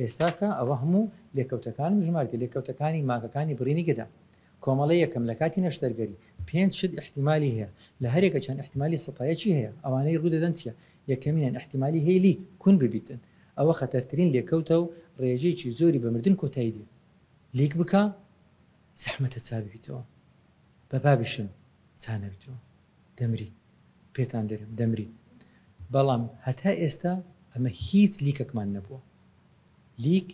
ئێستاکە ئەوە هەموو لێکەوتەکانم ژماردیە، لێکەوتەکانی مانگەکانی بڕینی گەدە. کۆمەڵە یەکەم، لە کاتی نەشتەرگەری، پێنج شت ئیحتیمالی هەیە، لە هەرێکە چەند ئیحتیمالی سەتا یەکی هەیە، ئەوانەی ڕوو دەدەن چیە؟ یەکەمینیان ئیحتیمالی هەیە لیک، کون، ببیتن، ئەوە خەتەرترین لێکەوتە و ڕێژەیەکی زۆری بە مردن کۆتایی دێ. لیک بکە زەحمەتە چا ببیتەوە، بە بابیشم چا نەبیتەوە. دەمری پێتان دەرێم دەمری بەڵام هەتا ئێستا ئەمە هیچ لیکەکمان نەبووە لیک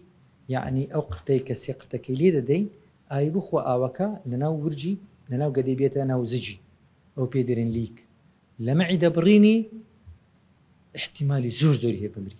یەعنی ئەو قرتەی کە سێ قرتەکەی لێ دەدەین ئای بخوا ئاوەکە لەناو ورجی لەناو گەدەی بێتە ناو زجی ئەو پێی دەرێن لیک لەمەعیدە بڕینی ئیحتیمالی زۆر زۆری هەیە بمری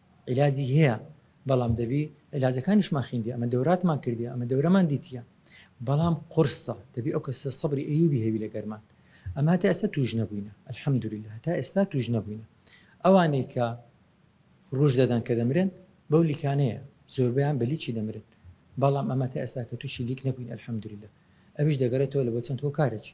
عیلاجی هەیە بەڵام دەبی عیلاجەکانیشمان خیندی ئەمە دەوراتمان کردی ئەمە دەورەمان دیتیە بەڵام قورسە دەبی ئەو کەسە سەبری ئەیوبی هەبی لەگەرمان ئەمە هەتا ئێستا توش نەبووینە الحمدللە هەتا ئێستا توش نەبووینە ئەوانەی کە ڕوژ دەدەن کە دەمرن بەو لیکانەیە زۆربیان بە لیکی دەمرن بەڵام ئەمە تا ئێستا کە توشی لیک نەبووین الحمدللە ئەویش دەگەرێتەوە لە بۆ چەند هۆکارێکی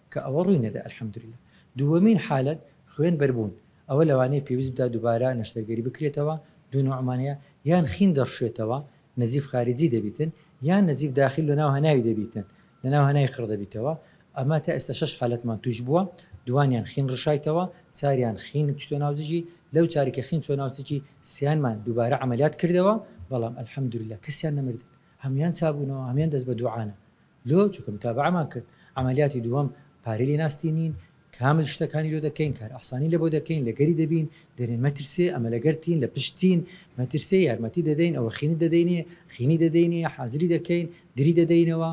کە ئەوە ڕووی نەدا الحمدللە. دووەمین حالەت خوێن بەر بوون، ئەوە لەوانەیە پێویست بدا دوبارە نەشتەرگەری بکرێتەوە، دوو نوعمان هەیە، یان خین دەڕشێتەوە، نزیف خارجی دەبیتن، یان نزیف داخل لە ناو هەناوی دەبیتن، لە ناو هەناوی خڕ دەبیتەوە، ئەمە تا ئێستا شەش حالەتمان تووش بووە، دووانیان خین ڕشایتەوە، چاریان خین چتۆ ناو زگی، لەو چاری کە خین چۆ ناو زگی سیانمان دوبارە عەمەلیات کردەوە، بەڵام الحمدللە کەسیان نەمردن، هەموویان چابوونەوە، هەموویان دەست بە دوعانە. لۆ چونکە متابەعەمان کرد عەمەلیاتی دووەم پارەی لێ ناستینین کامل شتەکانی لۆ دەکەین کار ئاسانی لەبۆ دەکەین لەگەری دەبین دەرێن مەترسێ ئەمە لەگەرتین لە پشتین مەترسێ یارمەتی دەدەین ئەوە خینی دەدەینێ خینی دەدەینێ حازری دەکەین دری دەدەینەوە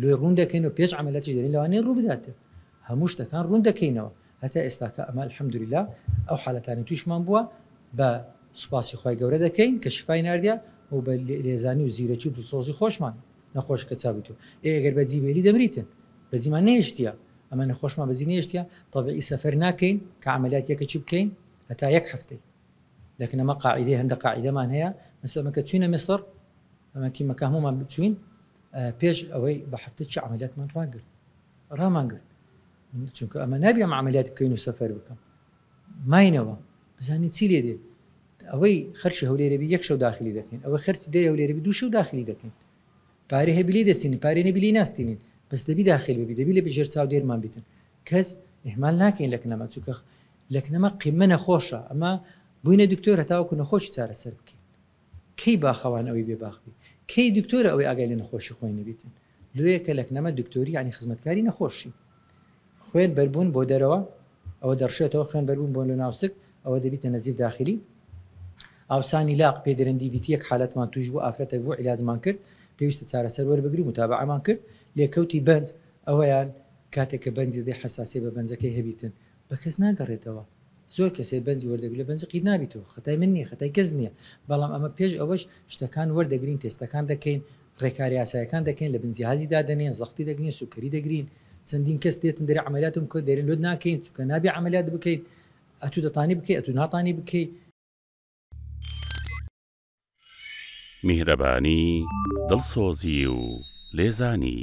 لۆی ڕوون دەکەین و پێش عملیاتی دەرین لەوانەیە ڕوو بداتێ هەموو شتەکان ڕوون دەکەینەوە هەتا ئێستاکە ئەمە الحمدللە ئەو حالەتانی تویشمان بووە بە سوپاسی خی گەورە دەکەین کە شفای ناردە و بە لێزانی و زیرەکی و دڵسۆزی خۆشمان نەخۆش کە چابی تۆ ئێ گەر بە جی بێلی دەمریتن بە جیمان نەهێشتیە ئەمە نەخۆشمان بە جی نەهێشتیە تەبعی سەفەر ناکەین کە عەمەلیات یەکەکی بکەین هەتا یەک هەفتەی لەکن ئەمە قاعیدەی هەندە قاعیدەمان هەیە مەسەمە کە چوینە میسڕ ئەمە تیمە کە هەمومان بچوین پێش ئەوەی بە هەفتە چ عەمەلیاتمان ڕاگرت ڕامان گرت چونکە ئەمە نابی ئەم عەمەلیات بکەین و سەفەر بکەم ماینەوە بزانین چی لێ دێ ئەوەی خەرشی هەولێرە بی یەک شەو داخلی دەکەین ئەوە خەرچ دێ هەولێرە بی دوو شەو داخلی دەکەین پارێ هەبی لی دەستین پارێ نەبی لی ناستینین بەس دەبی داخل ببی دەبی لە بژێر چاو دێرمان بیتن کەس ئهمال ناکەین لەکنەمە چووکە لەکنەمە قیمە نەخۆشە ئەمە بووینە دکتۆر هەتاوەکو نەخۆشی چارەسەر بکەین کەی باخەوان ئەوەی بێ باخبی کەی دکتۆرە ئەوەی ئاگای لە نەخۆشی خۆی نەبیتن لۆیە کە لەکنەمە دکتۆری یانی خزمەتکاری نەخۆشی. خوێن بەربوون بۆ دەرەوە ئەوە دەڕشێتەوە، خوێن بەربوون بۆ لەناو سک ئەوە دەبیتە نەزیف داخلی. ئاوسانی لاق پێ درن دی ڤیتی یەک حالەتمان تووش بوو ئافرەتەک بوو عیلاجمان کرد پێویستە چارەسەر وەربگری متابەعەمان کرد لێکەوتی بەنج ئەوەیان کاتێک کە بەنجی دەدەی حەساسیە بە بەنجەکەی هەبیتن بەکەس ناگەڕێتەوە زۆر کەسێ بەنج وەردەگرلە بەنج قیت نابیتەوە خەتای من نیە خەتای کەس نیە بەڵام ئەمە پێش ئەوەش شتەکان وەردەگرین تێستەکان دەکەین ڕێکارە یاسایەکان دەکەین لە بن جیهازی دادەنێن زەختی دەگرین سوکەری دەگرین چەندین کەس دێتن دەرێ عەمەلیاتم بکە دەرێن لۆت ناکەین چونکە نابێ عەمەلیات بکەیت ئەتو دەتانی بکەی ئەتو ناتانی بکەی. میهرەبانی، دڵسۆزی و لێزانی.